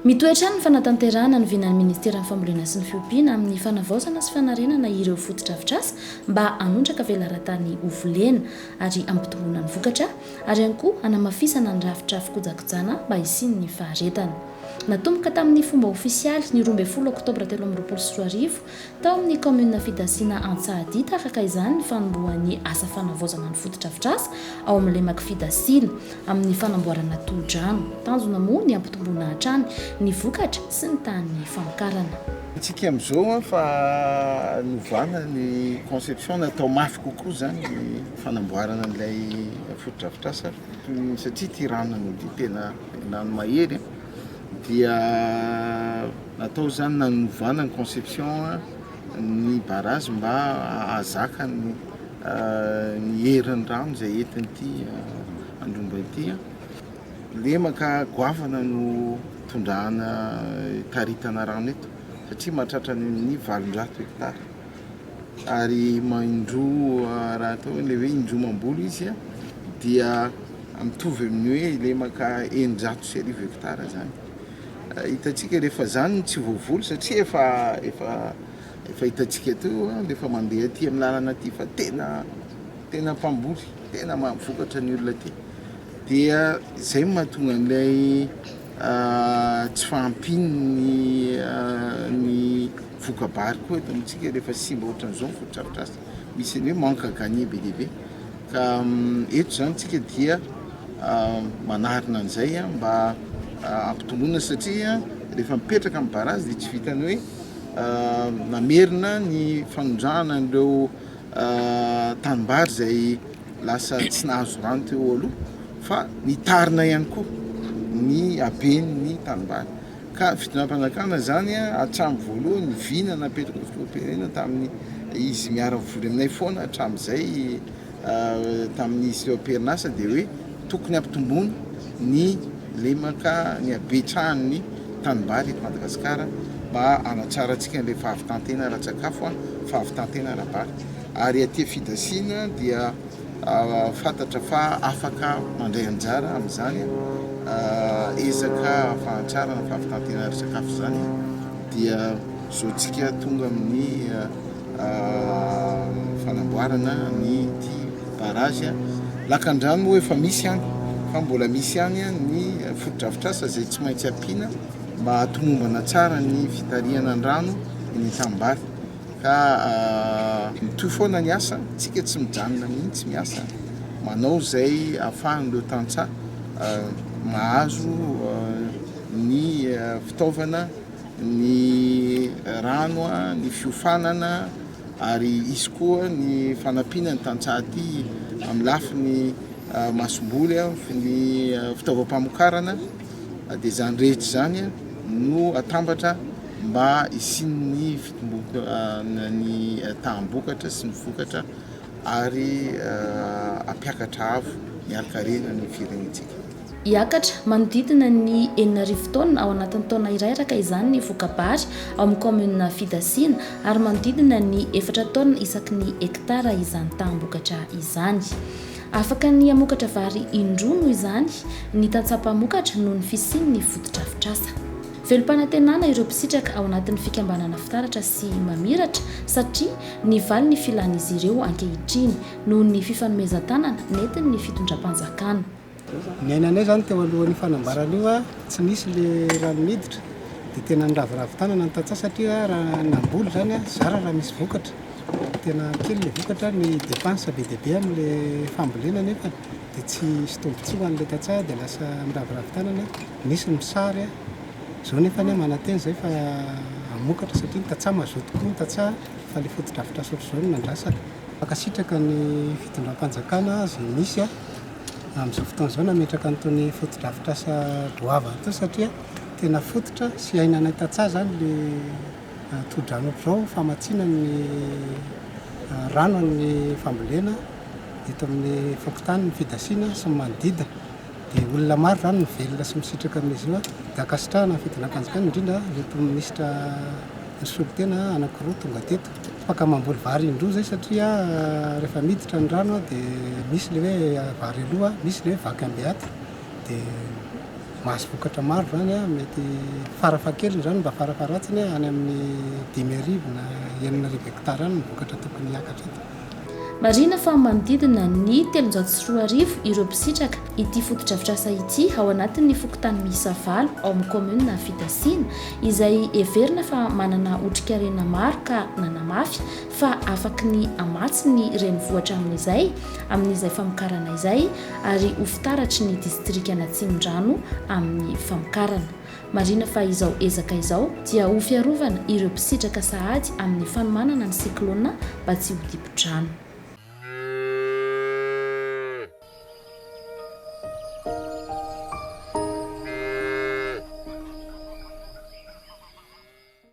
Mitohy hatrany ny fanatanterahana ny vinan'ny Ministeran'ny Fambolena sy ny Fiompiana amin'ny fanavaozana sy fanarenana ireo fotodrafitrasa mba hanondraka velaran-tany ho volena ary hampitomboana ny vokatra ary ihany koa hanamafisana ny rafitra fikojakojana mba hisian'ny faharetana. Natomboka tamin'ny fomba ofisialy ny roa ambin'ny folo oktobra telo amby roapolo sy roa arivo Tao amin'ny kaominina Fidasina Antsahadinta araka izany ny fanombohan'ny asa fanavaozana ny fotodrafitrasa ao amin'ny lemak'i Fidasina amin'ny fanamboarana tohodrano. Tanjona moa ny hampitomboana hatrany ny vokatra sy ny tahan'ny famokarana. Hitsiky amin'izao aho fa novana ny conception, natao mafy kokoa izany ny fanamboarana an'ilay fotodrafitrasa satria ity rano ity tena rano mahery. dia natao izany nanovana ny conception ny barrage mba hahazaka ny ny herin'ny rano izay entin'ity andromba ity lemaka goavana no tondrahana taritana rano eto satria mahatratra ny valonjato hectare ary indroa raha atao ilay hoe indroa mamboly izy dia mitovy amin'ny hoe ilay maka eninjato sy arivo hectare zany. Hitantsika rehefa zany no tsy voavoly satria efa efa efa hitantsika teo rehefa mandeha aty amin'ny lalana aty fa tena tena mpamboly tena mahavokatra ny olona aty dia izay mahatonga an'ilay tsy fahampian'ny ny voka-bary koa eto amintsika rehefa simba ohatran'izao ny fotodrafitrasa, misy an'ny hoe manque à gagner be dia be ka eto izany tsika dia manarina an'izay mba hampitomboina satria rehefa mipetraka amin'ny barazy dia tsy vitan'ny hoe namerina ny fanondrahana an'ireo tanimbary izay lasa tsy nahazo rano teo aloha fa nitarina ihany koa ny haben'ny tanimbary ka fitondrampanjakana izany hatramin'ny voalohany ny vina napetraka fitondraperena tamin'ny izy miara-mivory aminay foana hatramin'izay tamin'izy teo am-perinasa dia hoe tokony hampitomboana ny lemaka, ny habetsahan'ny tanimbary eto Madagasikara mba hanatsarantsika an'ilay fahavitan-tena ara-tsakafo, fahavitan-tena ara-bary. Ary aty Fidasina dia fantatra fa afaka mandray anjara amin'izany ezaka fahanatsarana fahavitan-tena ara-tsakafo izany dia zao tsika tonga amin'ny. fanamboarana ny ity barrage lakandrano moa efa misy any fa mbola misy any ny fotodrafitrasa izay tsy maintsy ampiana mba hatomombana tsara ny fitarihana ny rano ny tambary ka ah, mitoy foana ny asa tsika tsy mijanona mihitsy miasa manao izay ahafahan'ireo tantsaha ah, mahazo ah, ny ah, fitaovana ny rano, ny fiofanana ary hisy koa ny fanampiana ny tantsaha aty amin'ny lafiny masomboly, ny fitaovam-pamokarana dia izany rehetra izany no atambatra mba hisian'ny fitomboan'ny taham-bokatra sy ny vokatra ary hampiakatra avo ny harikarena ny firenentsika. Hiakatra manodidina ny enina arivo taonina ao anatin'ny taona iray araka izany ny voka-bary ao amin'ny kaominina Fidasina ary manodidina ny efatra taonina isaky ny hektara izany taham-bokatra izany. Afaka ny hamokatra vary indroa noho izany ny tantsaha mpamokatra noho ny fisian'ny fotodrafitrasa. Velom-panantenana ireo mpisitraka ao anatin'ny fikambanana Fitaratra sy Mamiratra satria nivaly ny filan'izy ireo ankehitriny noho ny fifanomezan-tanana nentin'ny fitondram-panjakana. Niainanay izany teo alohan'io fanambarana io, tsy nisy ilay rano miditra dia tena niraviravy tanana ny tantsaha satria raha namboly izany zara raha misy vokatra, tena kely ilay vokatra, ny dépense be dia be amin'ilay fambolena nefa dia tsy hisy tombontsoa ho an'ilay tantsaha dia lasa miraviravy tanana, nisy ny mpisary, izao nefa anie manantena izay fa hamokatra satria ny tantsaha mazoto koa ny tantsaha fa ilay fotodrafitrasa ohatr'izao no nandrasana. Mankasitraka ny fitondram-panjakana izay nisy. amin'izao fotoana izao nametraka an'itony fotodrafitrasa goavana itony satria tena fototra sy ainanay tantsaha izany le ah, tohodrano ohatr'izao famatsiana ny ah, rano amin'ny fambolena eto amin'ny fokontany ny fidasiana sy ny manodidina dia olona maro izany mivelona sy misitraka amin'izy io dia ankasitrahana ny fidinam-panjakana indrindra ireto minisitra nisolo tena anankiroa tonga teto Afaka mamboly vary indroa zay satria rehefa miditra ny rano de misy le hoe vary aloha misy le hoe vaky ambiaty de mahazo vokatra maro zany mety fara fahakeliny zany mba fara faharatsiny any amin'ny dimy arivo na enina arivo hectare any ny vokatra tokony hiakatra eto. Marihina fa manodidina ny telonjato sy roa arivo ireo mpisitraka ity fotodrafitrasa ity ao anatin'ny fokontany miisa valo ao amin'ny kaominina Fitasinà, izay heverina fa manana otrikarena maro ka nanamafy fa afaky ny hamatsy ny renivohitra amin'izay amin'izay famokarana izay ary ho fitaratry ny distrikan'Atsimondrano amin'ny famokarana. Marihina fa izao ezaka izao dia ho fiarovana ireo mpisitraka sahady amin'ny fanomanana ny siklôna mba tsy ho dibo-drano.